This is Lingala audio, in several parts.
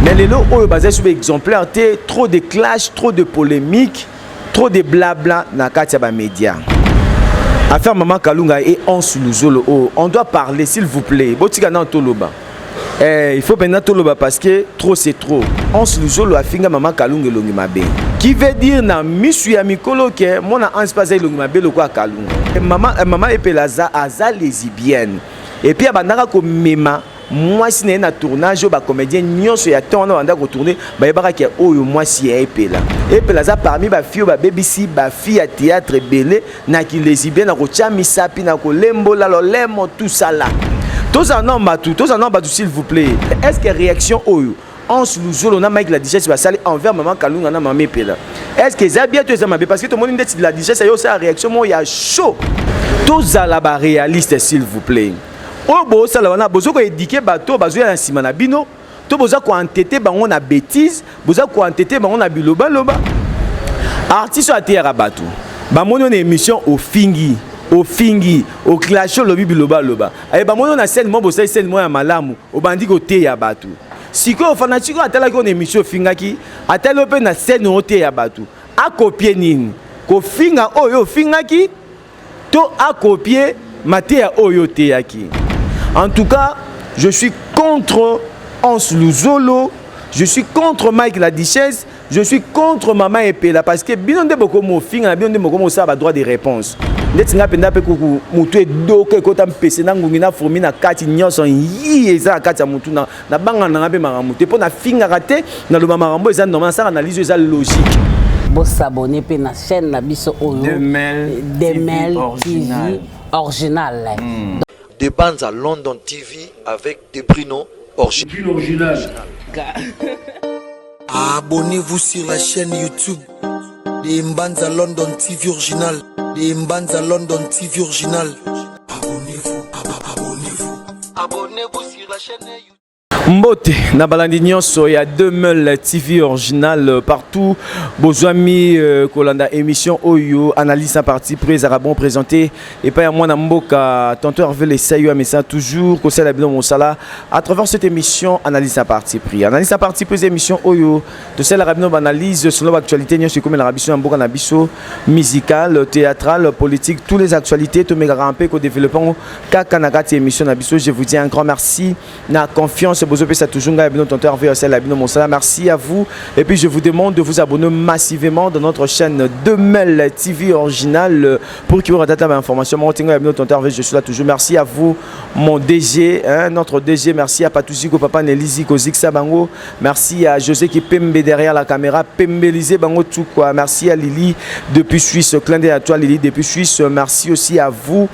mais lelo oyo bazali soki exemplaire te trop de clash trop de polémique trop de blabla na kati ya bamédia affaire mama kalunga e anse luzolo oyo on doit parler s'il vous plaît botika nano toloba eh, il faut maintenant toloba parce que trop c'est trop anse luzolo afinga mama kalunga elongi mabe qui veut dire na misu ya mikolo ke mwana anse mpe aza elongi mabe lokola kalunga mama, mama epela aza, aza lesibienne epuis abandaka komema mwasi na ye na tournage oyo bacomédien nyonso ya temps wana banda kotourne bayebaka ke oyo mwasi ya epela epela aza parmi bafi oyo babebisi bafi ya théâtre ebele na kilesibien na kotya misapi na kolembola lolemo tusala tozala nao bato tozala nao bato s'il vous plaît est ce que réaction oyo Hans Luzolo na Mike la Digesse basali envers maman Kalunga na maman Epela. Est-ce que eza bien to eza mabe parce que tomoni ndeti la Digesse yo sa réaction mo ya chaud. Tozala ba réaliste s'il vous plaît. oyo bosala wana bozo ko éduquer bato bazoya na nsima na bino to boza ko entete bango na bêtise boza ko entete bango na bilobaloba artiste oyo ateyaka bato bamoni na émission ofingi ofingi oclashe olobi bilobaloba aye bamoni na scène moko bosali scène moko ya malamu obandi koteya bato sikoyo fanatike oyo atalaki oyo na émission ofingaki atali oyo mpe na scène oteya bato akopie nini kofinga oyo ofingaki to a copier mateya oyo oteyaki en tout cas je suis contre Hans Luzolo je suis contre Mike la Duchesse je suis contre Mama Epela parce que bino nde bokomi ofinga na bino nde bokomi osala ba droit de réponse ndeti ngai mpenza mpe kuku motu edoka ekota mpese na ngungi na fourmi na kati nyonso yi eza na kati ya motu na nabanga nanga mpe makambo te mpo nafingaka te naloba makambo eza normal nasala analyse oyo eza logique bosabone mpe na chaîne na biso oyo demel tv original hmm. de banza london tv avec de bruno original Abonnez-vous sur la chaîne YouTube de Mbanza London TV Original. De Mbanza London TV Original. Abonnez-vous, abonnez-vous. Abonnez-vous sur la chaîne YouTube. mbote na balandi nyonso ya 2000 tv original euh, partout bozwami euh, kolanda émission oyo analyse na parti près ezalaka bon présenté epai ya mwana mboka tonton herve lesai ya mesa toujours kosala bino mosala à travers cette émission analyse na parti pris analyse na parti pris émission oyo tosalaka bino baanalyse selon baactualité nyonso ekomelaka biso na mboka na biso musicale théâtrale politique tous les actualités tomekaka mpe kodéveloppe yango kaka na kati ya émission na biso je vous dis un grand merci na confiance bozopesa toujours ngai bino tonton Hervé osala bino mosala merci à vous et puis je vous demande de vous abonner massivement dans notre chaîne Demel TV original pour que vous ratez ma information mon tinga bino tonton Hervé je suis là toujours merci à vous mon DG hein, notre DG merci à Patuziko papa Nelizi Koziksa bango merci à José qui pembe derrière la caméra pembelise bango tout quoi merci à Lily depuis Suisse clin d'œil à toi Lily depuis Suisse merci aussi à vous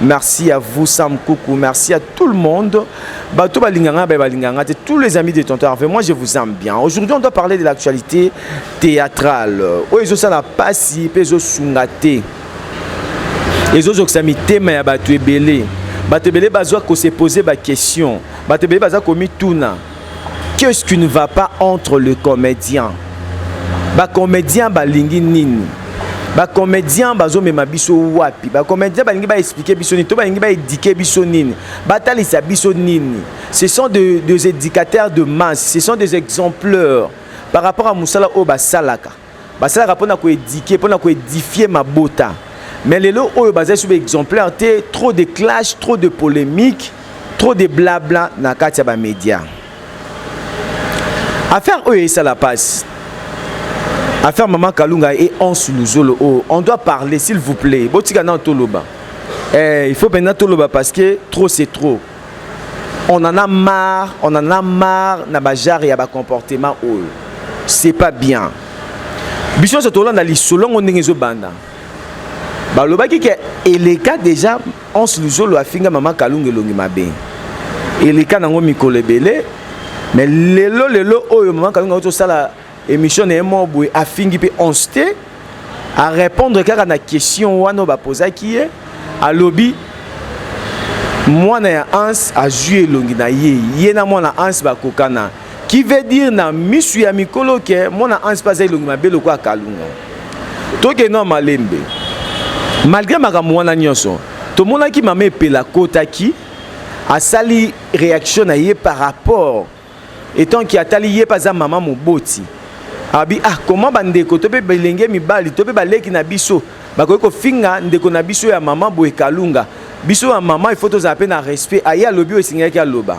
Merci à vous Sam Koukou, merci à tout le monde. Bato balinganga, ba balinganga, tous les amis de Tonton Harvey, moi je vous aime bien. Aujourd'hui on doit parler de l'actualité théâtrale. Oyo ezosala pasi mpe ezosunga te. Ezozokisa mitema ya bato ebele. Bato ebele bazwa ko se poser ba question. Bato ebele baza komituna. Qu'est-ce qui ne va pas entre le comédien Ba comédien balingi nini Ba comédien bazomema biso wapi Ba comédien balingi ba expliquer biso nini to balingi ba éduquer biso nini Batalisa biso nini Ce sont de, des éducateurs de masse, ce sont des exempleurs par rapport à musala oyo basalaka basalaka mpo na koedike mpo na koedifie mabota mais lelo oyo bazali soki exemplaire te trop de clash trop de polémique trop de blabla na kati ya bamédia affaire oyo esala mpasi affaire mama kalunga e anse luzolo oyo on doit parler s'il vous plaît botika nano toloba eh, il faut mpenza toloba parce que trop c'est trop on en a marre on en a marre na bajare ya bacomportement oyo c'est pas bien biso nyonso tolanda lisolo yango ndenge ezobanda balobaki ke eleka déjà onse luzolo afinga mama kalunga elongi mabe eleka nango mikolo ebele mais lelo lelo oyo mama kalunga auti osala Emission na ye moko boye afingi mpe onse te arépondre kaka na question wana oyo bapozaki ye alobi mwana ya Hans azwi elongi na ye ye na mwana Hans bakokana qui veut dire na misu ya mikolo ke mwana Hans mpe aza elongi mabe lokola kalunga tokende na malembe malgré makambo wana nyonso tomonaki mama epela akotaki asali réaction na ye par rapport etant ki atali ye mpe aza mama moboti abi ah comment bandeko to mpe bilenge mibali to mpe baleki na biso bakoki kofinga ndeko na biso ya mama boye kalunga biso ya mama ifo tozala mpe na respect aye alobi oyo esengelaki aloba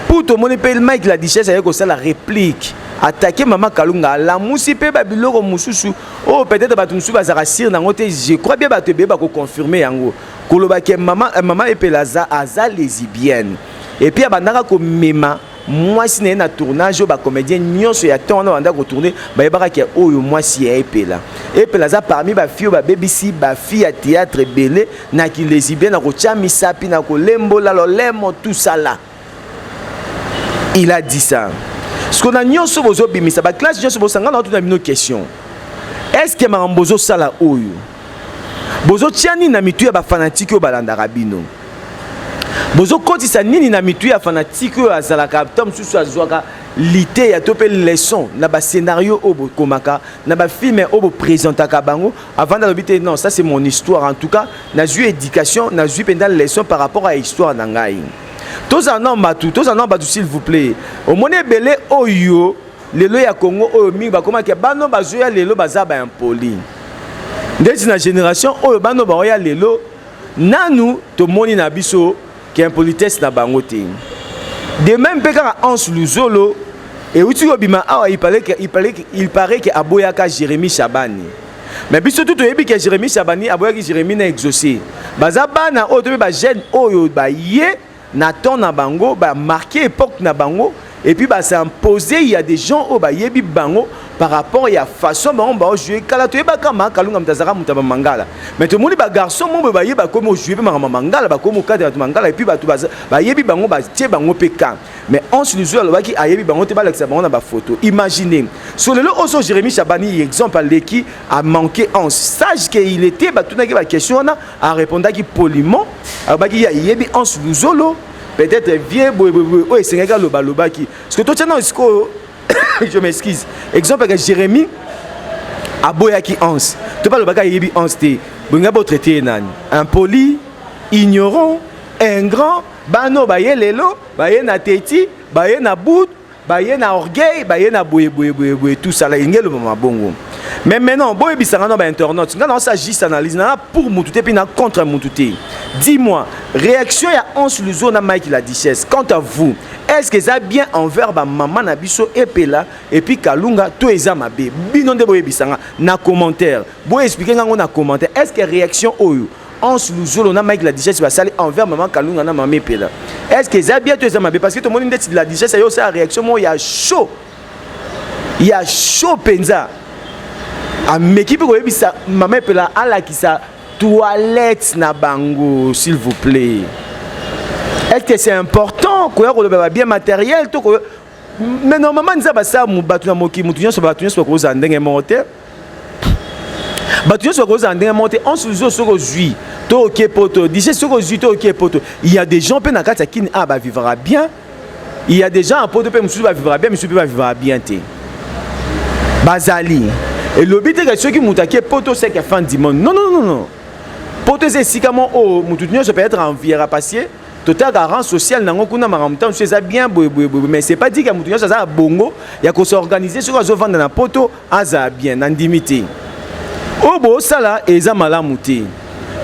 mpo tomoni mpe mike la duchesse aye kosala replique atake mama kalunga alamusi mpe babiloko mosusu oyo oh, peut-être bato mosusu bazalaka sire nango te je crois bien bato ebele bakoconfirme yango koloba ke mama, eh, mama epela aza, aza lesibienne et puis abandaka komema mwasi na ye na tournage oyo bacomédien nyonso ya temps wana banda kotourne bayebaka ke oyo mwasi ya epela epela aza parmi bafille oyo babebisi bafille ya théâtre ebele na kilesibien na kotya misapi na kolembola lolemo tusala il a dit ça siko na nyonso bozobimisa baklasse nyonso bosangana watu na bino question est ce que makambo bozosala oyo bozotya nini na mitu ya bafanatike oyo balandaka bino bozokotisa nini na mitu ya fanatike oyo azalaka ta mosusu azwaka liteya to mpe leçon na bascenario oyo bokomaka na bafilme oyo bopresentaka bango avanda alobi te non ça c'est mon histoire en tout cas nazwi éducation nazwi mpenza leçon par rapport à histoire na ngai tozala nao bato tozala nao bato s'il vous plaît omoni ebele oyo lelo ya congo oyo mingi bakomaki bano bazoya lelo baza baimpoli ndeti na génération oyo bano baoya lelo nanu tomoni na biso ke impolitesse na bango te de même mpe kaka anse luzolo euti kobima awa il paraît que, il paraît que, il paraît que aboyaka jérémie shabani mais biso tu toyebi ke jérémie shabani aboyaki jérémie na exaucé baza bana oyo to mpe bajeune oyo baye na temps na bango ba marquer epoque na bango et puis ba s'imposer il y a des gens oyo bayebi bango par rapport ya façon bango bao jouer kala toyebaka ma kalunga moto azalaka moto ya bamangala mais tomoni bagarçon mo boye baye bakomi ojoue mpe makambo mangala bakomi okadela bato mangala epuis bato bayebi bango batie bango mpe kan mais once luzwi alobaki ayebi bango te balakisa bango na bafoto imagine so lelo oso jérémi chabani exemple aleki amanke once sage ke il était batunaki baquestion wana a repondaki poliment alobaki ya yebi anse luzolo peut-être vieux boye boye boye oyo esengaki aloba alobaki parce que totya nao sikoyo je m'excuse exemple yaka jérémie aboyaki anse to mpe alobaki ayebi anse te bolinga botraite ye nani impoli ignorant ingrand bana oyo baye lelo baye na teti baye na bud baye na orgueil baye na boye boye boye boye tout ça la ingelo mama bongo mais maintenant boye bisanga na ba internautes nga na sa juste analyse na pour mutu te puis na contre mutu te dis-moi réaction ya Hans Luzo na Mike la Duchesse quant à vous est-ce que eza bien envers ba maman na biso epela et puis Kalunga to eza mabe bino nde boye bisanga na commentaire boye expliquer nga ngo na commentaire est-ce que réaction oyo Hans Luzolo na Mike la Duchesse basali envers maman Kalunga na maman Epela. Est-ce que eza bien to eza mabe parce que tomoni ndeti la Duchesse ayo sa réaction mo ya chaud. Ya chaud penza. Ameki pe koyebisa maman Epela alakisa toilette na bango s'il vous plaît. Est-ce que c'est important koya koloba ba bien matériel to koya mais normalement nzambe asala bato na mokili moto nyonso bato nyonso bakozala ndenge moko te bato nyonso bakozala ndenge moko te onse ozo soki ozwi to oke poto dije soki ozwi to oke poto il y a des gens mpe na kati ya kini a ah, bavivaka bien il y a des gens ya poto mpe mosusu bavivaka bien mosusu mpe bavivaka bien te bazali elobi te ke soki moto ake poto seke fin du monde non non non non poto eza esika moko oyo moto nyonso peut-être enviera parce que totaka rang social nango kuna makambo ntango mosusu eza bien boye boye boye mais c'est pas dit ke moto nyonso aza ya bongo ya kosorganize soki azovanda na poto azala bien nandimi te oyo bosala eza malamu te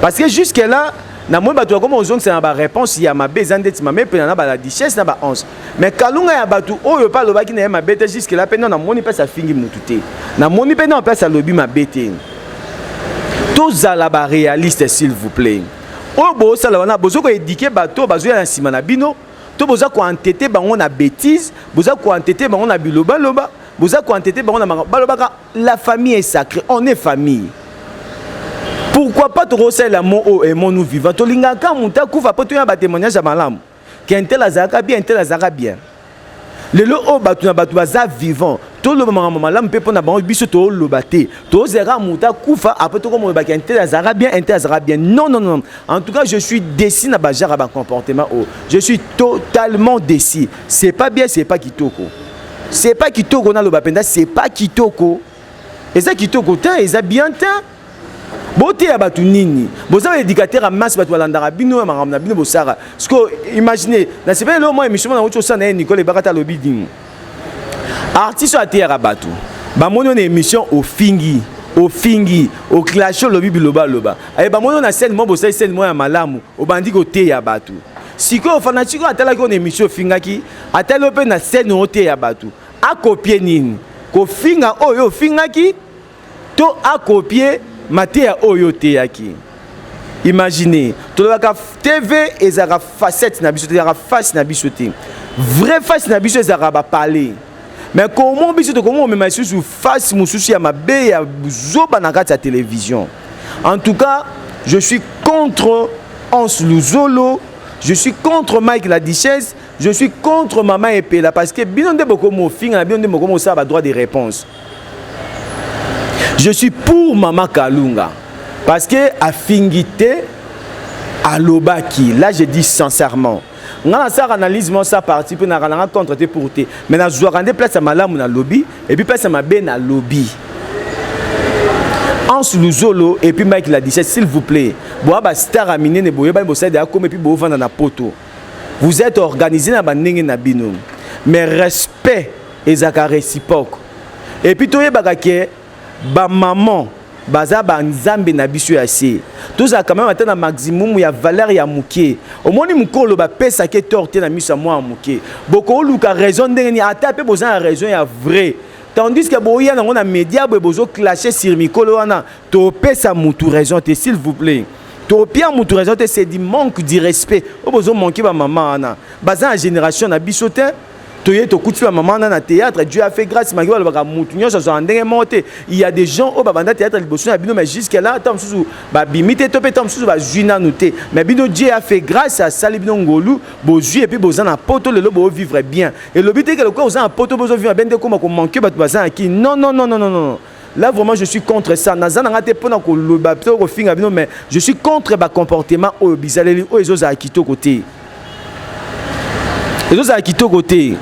parce que jusque là namoni bato bakoma kozongisa na baréponse ya mabe eza ndeti mame mpena na baladichesse na baonce mais kalunga ya bato oyo mpe alobaki na ye mabe te jusque là mpe no namoni mpasi afingi motu te namoni mpe no mpasi alobi mabe te tozala baréaliste s'il vous plaît oyo bosala wana bozo ko éduquer bato bazoya na nsima na bino to boza ko entete bango na bêtise boza ko entete bango na bilobaloba boza ko entete bango na makambo balobaka la famille est sacrée on est famille pourquoi pas tokosalela mo oyo emonu vivant tolingaka moto akufa mpo toya batémoignage ya malamu Kentel azalaka bien, Intel azalaka bien. Lelo oyo bato na bato baza vivant toloba makambo malamu mpe mpo na bango biso toloba te tozela kaka moto akufa apres tokomona baki intel azalaka bien intel azalaka bien non non non en tout cas je suis déci na bajaka bacomportement oyo je suis totalement déci c'est pas bien c'est pas kitoko c'est pas kitoko naloba mpenza c'est pas kitoko eza kitoko te eza bien te boteya bato nini boza baéducateur ya masse bato balandaka bino ya makambo na bino bosaka siko imagine nasepeli lelo mwa émission mwana auti osala na ye nicole ebaka ta alobi nini artiste oyo ateyaka bato bamoni na émission ofingi ofingi oclashe olobi bilobaloba aye bamoni na scène mwa bosali scène mwa ya malamu obandi koteya bato sikoyo fanatiko atalaki oyo na émission ofingaki atali yo mpe na scène oteya bato akopie nini kofinga oyo ofingaki to akopie mateya oyo oteyaki imagine tolobaka tv ezalaka facette na biso te ezalaka face na biso te vrai face na biso ezalaka bapale mais komo biso tokomi komema lisusu face mosusu ya mabe ya zoba na kati ya télévision en tout cas je suis contre hans luzolo je suis contre mike la duchesse je suis contre mama epela parce que bino nde bokomi ofinga na bino nde bokomi osala badroit de réponse je suis pour mama kalunga parce que afingi te alobaki là je dis sincèrement nga nasalaka analyse moko sa parti mpe naka nanga contre te pour te mais nazwaka nde place ya malamu nalobi epuis place ya mabe nalobi Hans Luzolo et puis Mike Ladichet, s'il vous plaît, boa ba star à minene boye ba bosai de akome puis bo vanda na poto. Vous êtes organisé na bandenge na bino. Mais respect pe ezaka reciproque et puis toyebaka ke ba maman baza ba nzambe na biso ya se tozala quand même ata na maximum ya valeur ya moke omoni mokolo bapesa ke tort te na miso ya mwana moke bokoluka raison ndenge nini ata pe boza na raison ya vrai tandis que boya nango na media boye bozo clashe sur mikolo wana topesa mutu raison te s'il vous plaît topia mutu raison te c'est du manque du respect oyo bozo manque ba mama wana baza na génération na biso te toye tokuti ba mama wana na théâtre dieu a fait grâce maki balobaka mutu nyonso azwaka ndenge moko te il y a des gens oyo babanda théâtre liboso na bino mais jusqu'à là ntango mosusu babimi te to mpe ntango mosusu bazwi nanu te mais bino dieu a fait grâce asali bino ngolu bozwi epuis boza na poto lelo boovivre bien elobi te ke lokola oza na poto bozovivre bien nde ekoma komanke bato baza na kini non non non non non Là vraiment je suis contre ça. Naza nanga te pona ko loba to ko finga bino mais je suis contre ba comportement oyo bizaleli oyo ezo za kitoko te. Ezo za kitoko te.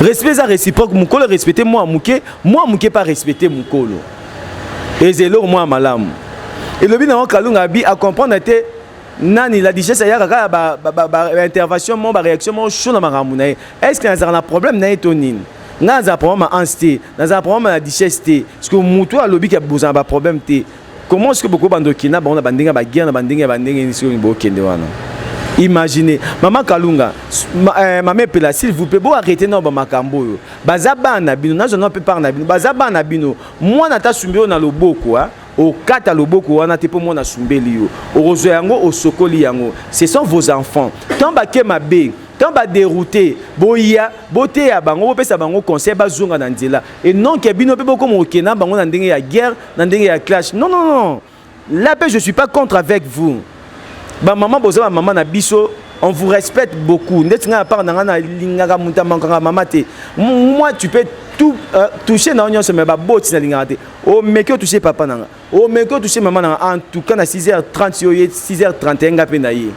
Respect za réciproque mukolo respecter moi muke, moi muke pas respecter mukolo. Ezelo moi malamu. Elobi na kalunga bi a comprendre te nani la digesse ayaka kaka ba, ba, ba, ba intervention mo ba réaction mo chaud na makambo na ye. Est-ce que nazaka na problème na ye to nini? nga nazala problème ya ans te nazala problème ya duchesse te parce que motu oyo alobi ke bozala ba problème te comment ce que bokoki bando okenda bango na bandenge ya baguerre na bandenge ya bandenge nini soki bokende wana imagine mama kalunga ma, eh, mama epela s'il vous plaît boarrete nao bamakambo oyo baza bana na bino nazwa nao mpe part na bino baza bana na bino mwana ata asumbi oyo na loboko okata loboko wana te mpo mwana asumbeli yo okozwa yango osokoli yango ce sont vos enfants tant bake mabe tant baderoute boya boteya bango bopesa bango conseil bazonga na nzela e non ke bino mpe bokoma okende na bango na ndenge ya guerre na ndenge ya clash non non non là mpe je suis pas contre avec vous ba maman boza ba maman na biso on vous respecte beaucoup ndeti ngai apart na ngai nalingaka moto amankaka mama te moi tu peux tout euh, touche na yo nyonso me baboti nalingaka te omeki oh, otouche papa na ngai omeki oh, otouche mama na ngai en tout cas na 6 h 30 yo ye 6 h 31 ngai mpe na ye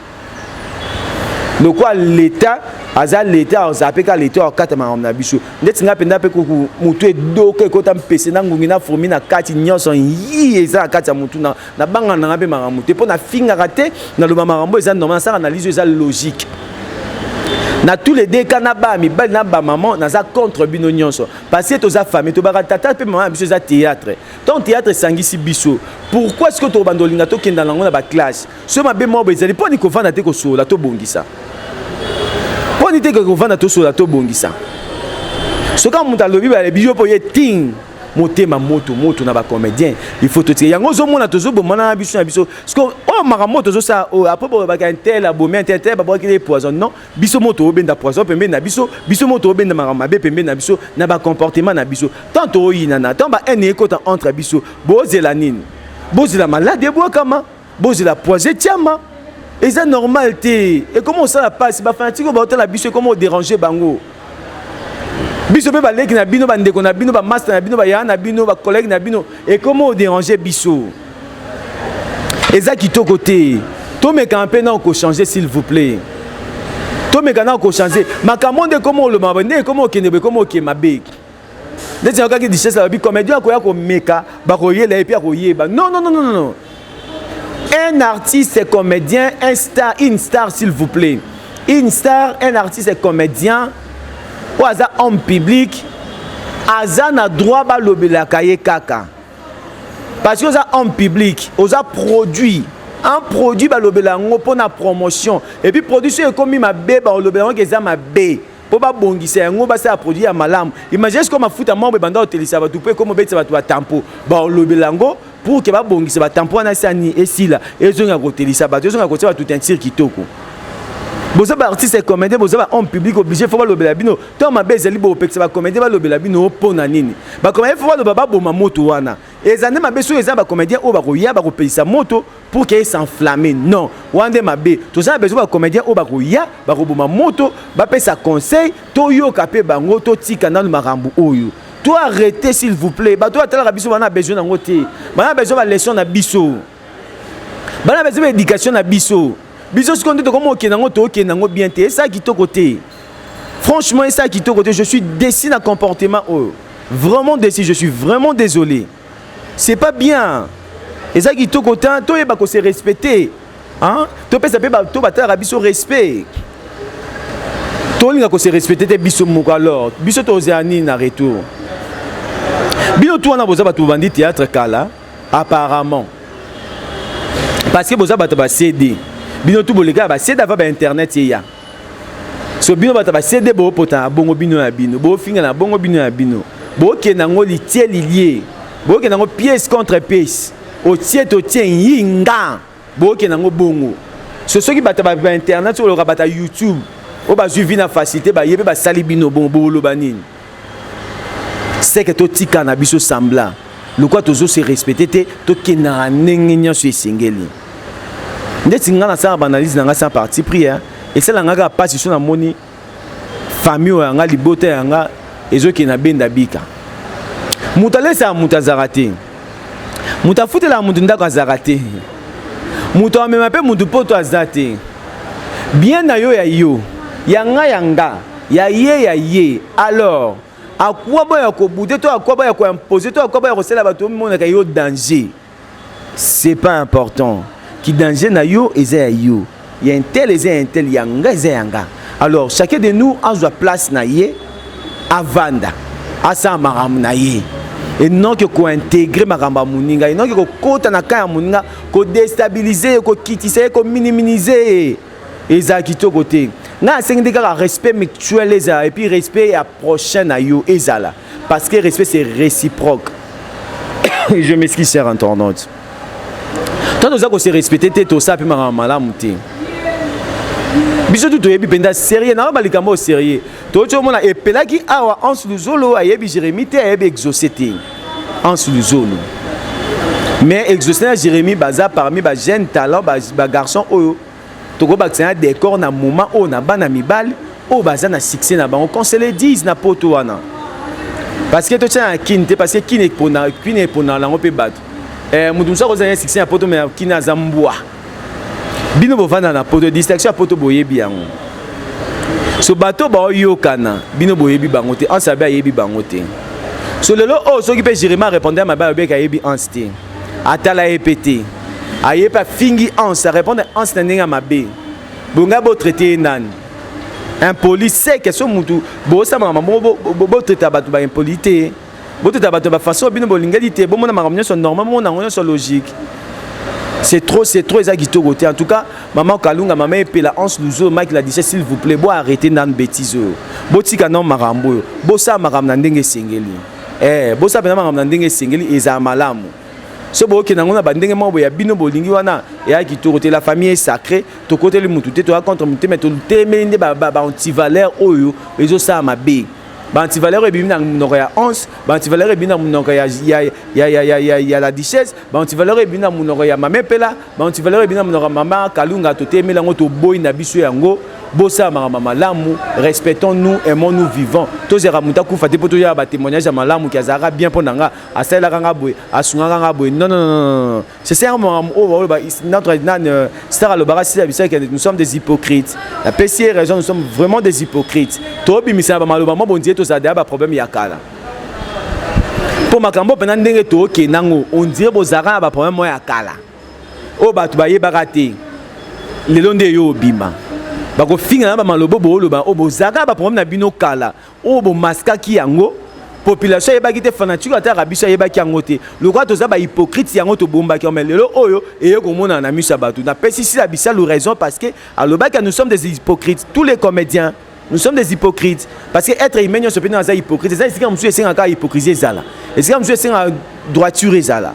lokola leta aza leta azala mpe kaka leta akata makambo na biso ndeti ngai mpenza mpe kuku motu edoka ekota mpese na ngungi na fourmi na kati nyonso yi eza na kati ya motu na Na banga nanga pe makambo te po na fingaka te na loba makambo eza normal na sala analyse eza logique. Na tous les deux cas na ba mibali na ba maman naza contre bino nyonso parce que toza famille tobaka tata pe maman biso eza théâtre. Tant théâtre esangisi biso. Pourquoi est-ce que to bando linga to kenda nango na ba classe? Ce mabe mwa bo ezali poni ko vanda te ko sola to bongisa. Poni te ko vanda to sola to bongisa. Soka mutu alobi ba bijo po ye ting motema moto moto na ba comédien il faut totika yango ozomona tozobomana na biso na biso siko oyo oh, makambo moto tozosala oyo oh, apres bolobaka intel abomi intel te babwakili ye poison non biso moto obenda poison pembeni na biso biso moto obenda makambo mabe pembeni na biso na bacomportement na biso tant tooyinana tant bahaine ekota entre biso bozela nini bozela malade ebwakama bozela poise etiama eza normal te ekoma osala mpasi bafanatike oyo baotala biso ekoma oderange bango biso mpe baleki na bino bandeko na bino bamasta na bino bayaya na bino bakolege na bino ekoma oderange biso eza kitoko te tomekana mpe nao kochange s'il vous plaît tomeka nao kochange makambo nde ekoma olobama nde ekoma okende boye ekoma oke mabe ndeti nayokaki duchesse alobi comédien akoya komeka bakoyela ye mpe akoyeba non non non non non un artiste est comédien un star une star s'il vous plaît une star un artiste est comédien oyo aza homme public aza na droit balobelaka ye kaka parce que oza homme public oza produit un produit balobela yango mpo na promotion epuis produit soki ekomi mabe balobela yango ke eza mabe mpo babongisa yango basala produit ya malamu imagine sikoyo mafuta moko ebanda kotelisa bato mpo ekomi obetisa bato batampo baolobela yango pour ke babongisa batampo wana esani esila ezonga kotelisa bato ezonga kotia bato teinture kitoko boza baartiste ya comédien boza bahomme public oblige fo balobela bino ntango mabe ezali bopekisa bacomédien balobela bino mpo na nini bacomédien fo baloba baboma moto wana eza nde mabe soki eza bacomédien oyo bakoya bakopelisa moto pour que s'enflamme non wana nde mabe toza na besoin bacomédien oyo bakoya bakoboma moto bapesa conseil toyoka mpe bango totika nano makambo oyo to arrete s'il vous plaît bato oyo atalaka biso bana besoin yango te bana besoin baleson na biso bana besoin baéducation na biso biso sikoyo nde tokomi okenda yango tookenda yango bien te esala kitoko te franchement esala kitoko te je suis déci na comportement oyo vraiment déci je suis vraiment désolé c'est pas bien eza kitoko te toyeba ko se respecter hein? topesa mpe bato batalaka biso respect tolinga ko se respecter te biso moko alors biso tozela nini na retour bino tu wana boza bato bobandi théâtre kala apparemment parce que boza bato ba cd bino tu bolekaka ba cd ava ba internet eya so bino bato ba cd boopota na bongo bino ya bino boofinga na bongo bino ya bino bookenda yango litie lilie bookenda yango pièce contre pièce otie totie yinga bookenda yango bongo so soki bato ba internet soki oloka bato ya youtube oyo bazwi vi na facilité baye mpe basali bino bongo boloba nini seke totika na biso sembla lokola tozose respecte te tokendaka ndenge nyonso esengeli ndeti ngai nasala baanalyse na ngai sans parti pris esala ngai kaka mpasi so namoni famille oyo yanga libota yanga ezokende na benda bika moto alesaka moto azalaka te moto afutelaka moto ndako azalaka te moto amema mpe moto mpoto aza te bien na yo ya yo ya nga ya nga ya ye ya ye alors akwa boya ya kobude to akwa boya ya koimpose to akwa boya ya kosala bato omonaka yo danger c'est pas important ki danger na yo eza ya yo ya intel eza ya intel ya nga eza ya nga alors chacun de nous azwa place na ye avanda asala makambo na ye enoki kointegre makambo ya moninga enoki kokota na ka ya moninga kodestabilize ye kokitisa ye kominimize ye ezala kitoko te ngai asengi nde kaka respect mutuel ezala epuis respect ya prochain na yo ezala parce que respect c'est réciproque je m'excuse cher internaute ntango toza kose respecte te tosala mpe makambo malamu te biso tu toyebi mpenza serie nayoba likambo oyo serie toyoti omona epelaki awa anse luzolo ayebi jérémi te ayebi exauce te anse luzolo mais exauce na jérémi baza parmi ba jeune talent bagarçon ba oyo tokobakisa na décor na moment oyo na bana mibali oyo baza na succès na bango qu'on se le dise na poto wana parce que totia na kine te parce que kine epona kine eponaka nango mpe bato eh, moto mosusu akozala na succès na poto me kine aza mbwa bino bovanda na poto distraction ya poto boyebi yango so bato baoyokana bino boyebi bango te anse abe ayebi bango te so lelo oyo oh, soki mpe jeremie arépondre ya mabe ayobeki ayebi anse te atala ye mpe te aye mpe afingi anse arépondre anse na ndenge ya mabe bongai botraite ye nani impoli seke so motu bosamaka mabongo botraita bato baimpoli te boteta bato ya bafaso bino bolingeli te bomona makambo nyonso normal bomona yango nyonso logique c'est trop c'est trop eza kitoko te en tout cas mama kalunga mama epela anse luzo mike la dice s'il vous plaît bo arrete nanu betise oyo botika nao makambo oyo bosala makambo na ndenge esengeli eh, bosala mpena makambo na ndenge esengeli ezala malamu so bookende yango na bandenge moko boya bino bolingi wana eya kitoko te la famille esacré tokoteli motu te toya contre motu te mai totemeli nde baantivaleur oyo ezosala mabe baantivaleur ebimi na monoko ya once baantivaleur ebimi na monoko ya, ya, ya, ya, ya, ya, ya la duchesse baantivaleur ebimi na monoko ya mama epela baantivaleur ebimi na monoko ya mama kalunga totemeli yango toboyi na biso yango bosala makambo malamu respectons nous aimons nous vivant tozalaka moto akufa te mpo toyaka batémoignage ya malamu ke azalaka bien mpo na nga asalelaka nga boye asungaka nga boye non non non C'est ça, oh, oh, bah, notre euh, star alobaka si abisa que nous sommes des hypocrites. La PCA raison, nous sommes vraiment des hypocrites. Tobi misa ba maloba mo bondie to ça ba problème ya kala. Po makambo pena ndenge to oke nango, on dirait bozaka ba problème ya kala. O oh, batu ba yebaka te. Lelo nde yo obima. Bakofinga na ba malobo bo loba o bozaka ba problème na bino kala. oyo bomaskaki yango population ayebaki te fanatiko ataka biso ayebaki yango te lokola toza bahypocrite yango tobombaki yango mai lelo oyo eye komonana na miso ya bato napesi sila bisalu raison parce que alobaki nous sommes des hypocrites tous les comédiens nous sommes des hypocrites parce que être humain nyonso mpe naza hypocrite eza esika mosusu esengaka hypocrisie ezala esika mosusu esengaka droiture ezala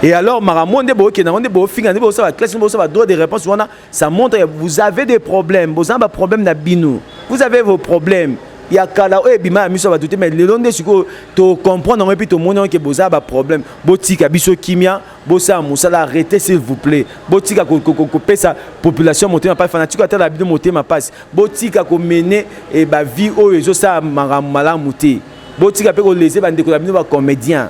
et alors makambo nde bookenda yango nde boofinga nde boosala classe nde boosala droit de réponse wana Ça montre que vous avez des problèmes. Vous avez des problèmes na bino. Vous avez vos problèmes. Il y a kala oyo ebima ya miso bato te mais lelo nde sikoyo tocomprendre yango epuis tomonaki ke boza ba problème botika biso kimia bosala mosala arrete s'il vous plaît botika kopesa population motema mpasi fanatiko atala bino motema mpasi botika komene eh, bavie oyo ezosala makambo malamu te botika mpe kolese bandeko na bino bacomédien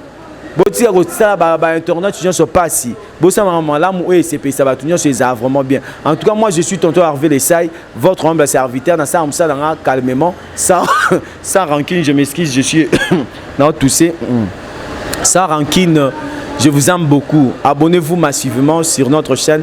botika kosala ba, ba internautes nyonso pasi bosalaka malamu oyo esepelisa bato nyonso ezala vraiment bien en tout cas moi je suis tonton harve lesai votre humble serviteur nasala mosala nga calmement sans, sans rancune je m'excuse je suis na tousse mm. sans rancune je vous aime beaucoup abonnez-vous massivement sur notre chaîne